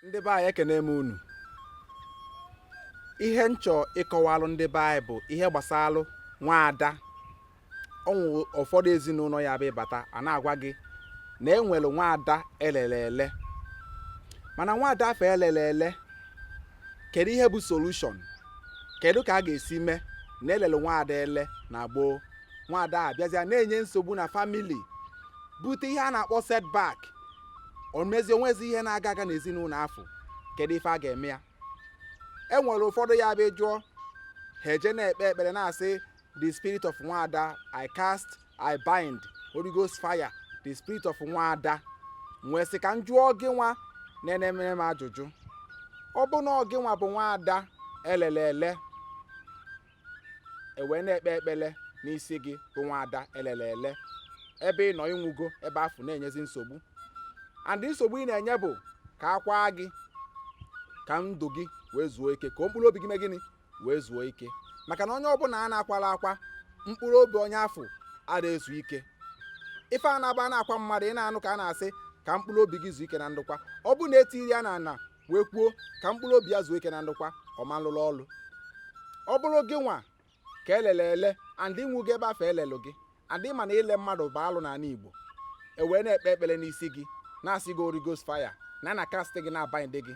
ndị be anyị ekene m unu ihe m chọ ịkọwalụ ndị be anyị bụ ihe gbasalụ nwaada o nwere ụfọdụ ezinụlọ ya bụ ị bata a na-agwa gị na e nwere nwaada elele ele mana nwaada afụ elele ele kedu ihe bụ solution kedu ka a ga-esi mee na elele nwaada ele na gboo nwaada a bịazịa na-enye nsogbu na family bute ihe a na-akpọ setback o mezie o nwezi ihe na-aga aga n'ezinụlọ afụ kedu ife a ga-eme ya e nwere ụfọdụ ya bụ jụọ ha eje na-ekpe ekpere na-asị the spirit of nwaada i cast i bind holy ghost fire the spirit of nwaada m wee sị ka m jụọ gị nwa na-enene m ajụjụ ọ bụ na ọ gị nwa bụ nwaada elele ele e wee na-ekpe ekpele n'isi gị bụ nwaada elele ele ebe ị nọ ị nwụgo ebe afụ na-enyezi nsogbu and nsogbu ị na-enye bụ ka a kwaa gị ka ndụ gị wee zuo ike ka mkpụrụ obi gị mee gịnị wee zuo ike maka na onye ọbụla a na-akwala akwa mkpụrụ obi onye afụ ada ezu ike ife ọ na-abụ a na-akwa mmadụ ị na-anụ ka a na-asị ka mkpụrụ obi gị zuo ike na ndokwa ọ bụ na e tiri ya na ana wee kwuo ka mkpụrụ obi ya zuo ike na ndokwa ọ ma lụrụ ọlụ ọ bụrụ gị nwa ka elele ele and ị nwụgo ebe afụ e lelụ gị and ị ma na ile mmadụ bụ alụ n'ala igbo e wee na-ekpe ekpere n'isi gị na-asị gị Holy Ghost fire na na cast gị na-abind gị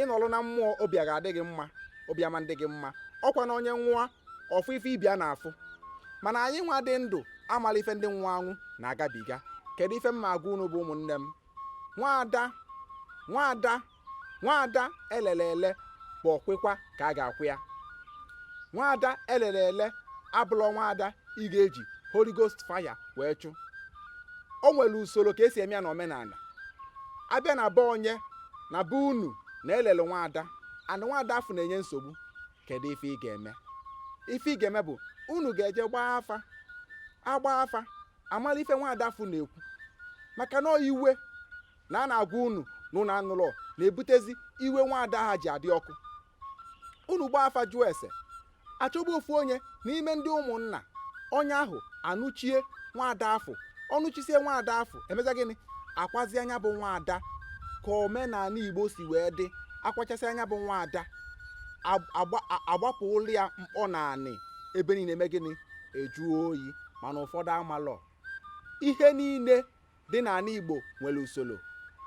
ị nọlụ na mmụọ obi a ga-adị gị mma obi ama adị gị mma ọ kwa na onye nwụọ ọ fụ ife ibe ya na-afụ mana anyị nwa dị ndụ amala ife ndị nwụọ anwụ na-agabiga kedu ife m na-agwa unu bụ ụmụnne m nwaada nwaada nwaada elele ele bụ ọkwịkwa ka a ga-akwa ya nwaada elele ele abụlọ nwaada ị ga-eji Holy Ghost fire wee chụ o nwere usoro ka e si eme ya na omenala a bịa na be onye na be unu na elele nwaada and nwaada afụ na-enye nsogbu kedu ife ị ga-eme ife ị ga-eme bụ unu ga-eje gbaa afa a gbaa afa a mala ife nwaada afụ na-ekwu maka na iwe na a na-agwa unu na unu anụlọ na-ebutezi iwe nwaada a ji adị ọkụ unu gbaa afa jụọ ese a chọpụ ofu onye n'ime ndị ụmụnna onye ahụ anụchie nwaada afụ ọ nụchisie nwaada afụ e mezie gịnị a kwazie nya bụ nwaada ka omenala igbo si wee dị a kwachasịa nya bụ nwaada a gbapụlụ ya mkpọ na anị ebe niile eme gịnị ejuo oyi mana ụfọdụ amalọ ihe niile dị n'ala igbo nwere usoro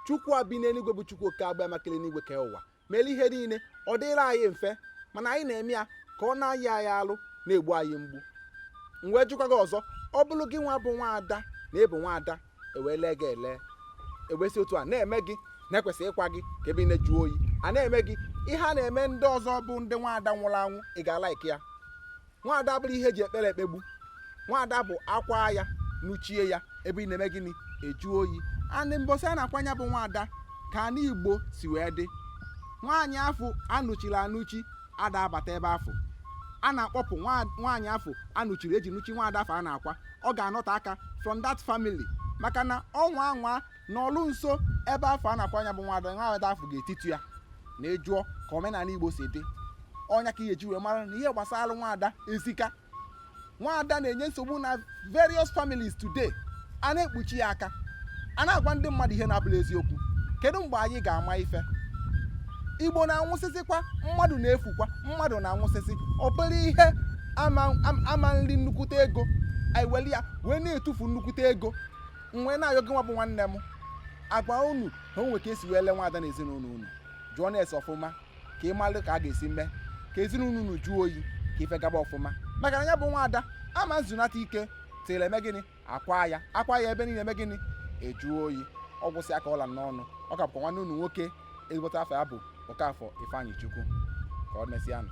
chukwu a bi n'eluigwe bụ chukwu oke abiama kele enigwe kee ụwa mere ihe niile ọ dịrị anyị mfe mana anyị na-eme ya ka ọ na-anyị anyị alụ na-egbu anyị mgbu m wee jụkwa gị ọzọ ọ bụrụ gịnwa bụ nwaada na ị bụ nwaada e wee lee gị ele ewesị otu a na-eme gị na-ekwesị ịkwa gị ka ebe niile juo oyi a na-eme gị ihe a na-eme ndị ọzọ bụ ndị nwaada nwụrụ anwụ ị ga-alaiki ya nwaada abụrọ ihe e ji ekpere ekpegbu nwaada bụ a kwaa ya nụchie ya ebe niile eme gịnị eju oyi anị mbọsị a na-akwa nya bụ nwaada ka anị igbo si wee dị nwaanyị afụ a nụchiri anụchi ada abata ebe afụ a na-akpọpụ nwa- nwaanyị afụ a nụchiri e ji nụchie nwaada afụ a na-akwa ọ ga-anọte aka from that family maka na ọ nwaa anwa nọlụ nso ebe afụ a na-akwa nya bụ nwada nwada afụ ga-etitu ya na ị jụọ ka omenala igbo si dị ọ nya ka ị ji wee mara na ihe gbasara nwaada ezika nwaada na-enye nsogbu na various families today a na-ekpuchi ya aka a na-agwa ndị mmadụ ihe na-abụrọ eziokwu kedu mgbe anyị ga-ama ife igbo na-anwụsịsịkwa mmadụ na-efukwa mmadụ na-anwụsịsị obere ihe ama eri nnukwute ego anyị weli ya wee na-etufu nnukwute ego m wee na-ayọ gịnwa bụ nwanne m a gwa unu na o nwere ka e si wee lee nwaada na ezinụlọ unu jụọnụ ese ọfụma ka ị malụ ka a ga-esi mee ka ezinụlọ unu jụọ oyi ka ife gaba ọfụma maka na ya bụ nwaada ama ezunata ike till e mee gịnị a kwaa ya a kwaa ya ebe niile eme gịnị ejuo oyi ọ gwụsịa ka ọ ra n'ọnụ ọ ka bụkwa nwanne unu nwoke ezigbote afa ya bụ Okafọ Ifeanyịchukwu ka ọ mesịa nụ